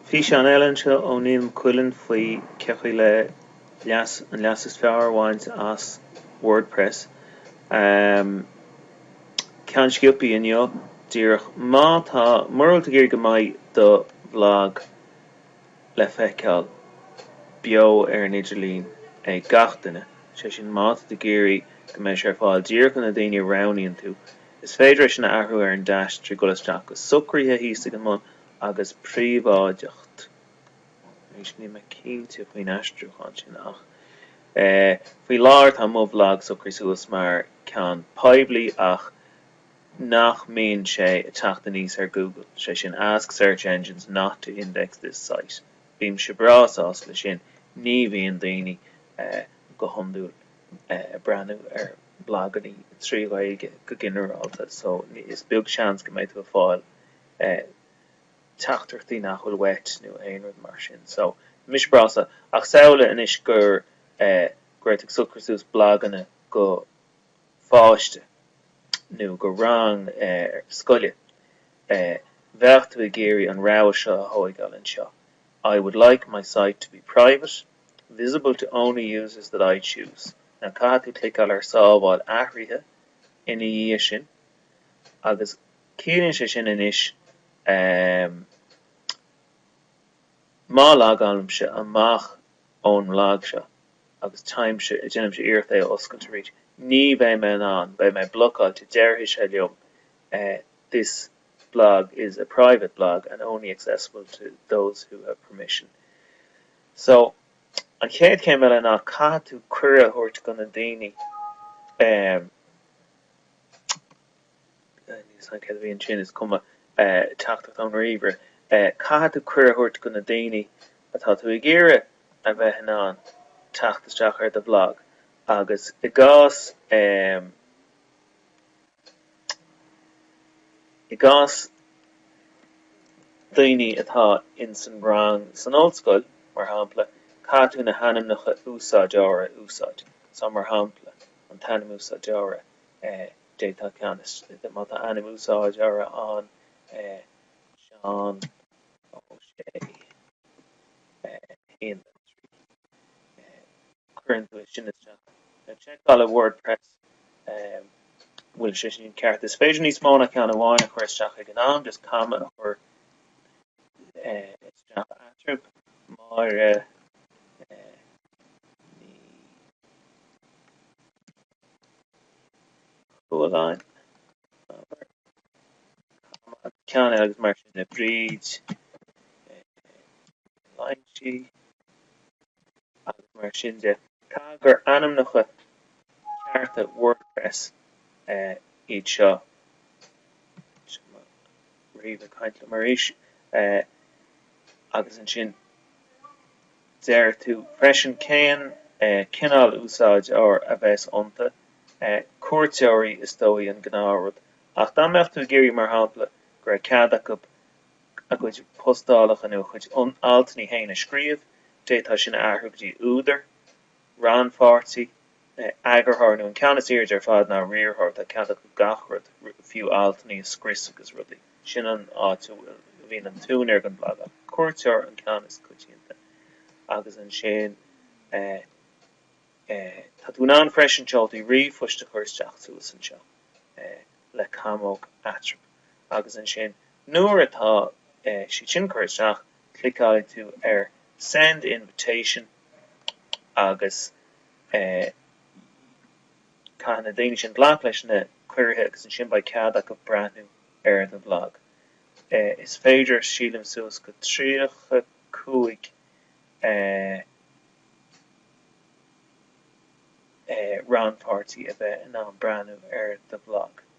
Físeán eile anseo ó Niall Mac Cuilinn faoi cén chaoi le leas, an leas is fearr a bhaint as Wordpress. Ceann sciopaí inniu díreach. Má tá, mura bhfuil tú ag iarraidh go mbeidh do bhlag le feiceáil beo ar an idirlíon ag gach duine, sé sin má tá tú ag iarraidh go mbeidh sé ar fáil díreach do na daoine a roghnaíonn tú, Is féidir é sin a athrú ar an deais trí dhul isteach go Socruithe thíos ag an mbun agus Príobháideacht. Arís níl mé cinnte faoin aistriúchán sin ach faoi láthair tá mo bhlag socraithe suas mar ceann poiblí ach nach mbíonn sé ag teacht aníos ar Google, sé sin Ask Search Engines not to index this site. Bímse breá sásta le sin, ní bhíonn daoine go hiondúil ag. breathnú ar bhlaganna trí Ghaeilge go ginearálta so is beag seans go mbeidh tú ag fáil teachtaireachtaí nach bhfuil uait nó aon rud mar sin so mise breá sásta ach samhlaigh anois gur, go raibh tú ag socrú suas blaganna go pháiste nó go rang scoile bheadh tú ag iarraidh an rogha seo a thóigeáil anseo I would like my site to be private Visible to only users that I choose, Now caithfidh tú cliceáil ar Sábháil athruithe ina dhiaidh sin agus ciallaíonn sé sin anois má logálaimse amach ón mblag seo agus téimse, déanaimse iarracht é a oscailt arís, ní bheidh mé in ann, beidh mé blocáilte, déarfaidh sé liom this blog is a private blog and only accessible to those who have permission. So, an chéad chéim eile ná caithfidh tú cuireadh a thabhairt go na daoine ehm, níl 'fhios a'm céard a bhí ansin, is cuma, eh, teachtaireacht ón ríomhaire, eh, caithfidh tú cuireadh a thabhairt go na daoine atá tú ag iarraidh a bheith in ann teacht isteach ar do bhlag agus i gcás ehm, i gcás daoine atá ins an rang san ollscoil, mar shampla, caithfidh tú na hainmneacha úsáideora a úsáid, so mar shampla, an t-ainm úsáideora, d'fhéadfá ceann is, má tá ainm úsáideora ann, Seán Ó Sé, 1, 2, 3. cuireann tú é sin isteach. Seiceálfaidh WordPress an bhfuil sé sin ceart. Is féidir níos mó ná ceann amháin a chur isteach ag an am, just comma a chur isteach eatarthu. Máire Ní Chualáin. ceann agus mar sin le Bríd Loingsigh agus mar sin de. Caithfidh gur ainmneacha cearta WordPress iad. Seo mo ríomhaire ag caint liom arís agus ansin. deir tú freisin cén cineál úsáideoir a bheas iontu, cuairteoirí is dóigh an gnáthrud, ach dá mbeadh tú ag iarraidh mar shampla go raibh cead acu a gcuid postálacha nó a chuid altanna féin a scríobh, d'fhéadfá sin a athrú go dtí údar. rannpháirtí, eagarthóir nó an ceann is airde ar fad ná riarthóir, tá cead acu gach rud, fiú altanna a scrios agus rudaí. Sin an áit a bhíonn an t-úinéir den bhlag, ach cuairteoir, an ceann is coitianta agus ansin tá tú in ann freisin seoltaí ríomhphoist a chur isteach suas anseo le camóg eatarthu agus ansin nuair atá siad sin curtha isteach Cliceálfaidh tú ar 'Send Invitation' agus caithfidh na daoine sin glac leis na cuirithe agus ansin beidh cead acu breathnú ar do bhlag. Is féidir sílim suas go 35 rannpháirtí a bheith in ann breathnú ar do bhlag.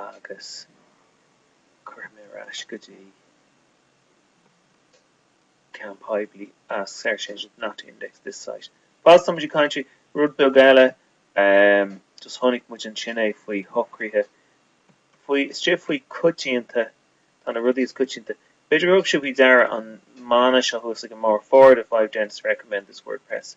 agus cuirfidh mé ar ais go dtí ceann poiblí ask search engines not to index this site. Fad is atá muid ag caint faoi rud beag eile um just chonaic muid ansin é faoi shocruithe faoi istigh faoi coitianta tá na rudaí is coitianta b'fhéidir gur thug sibh faoi deara an mana seo thuas againn mar four out of five dentists recommend this WordPress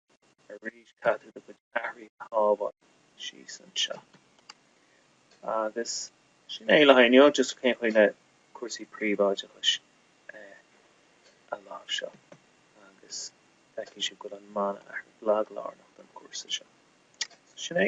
arís caithfidh tú do chuid athruithe a shábháil síos anseo. Agus sin é le haghaidh inniu, just cén chaoi le cúrsaí príobháideachais a láimhseáil. Agus feicfidh sibh go bhfuil an mana athraithe, blag lárnach don chúrsa seo. Sin é.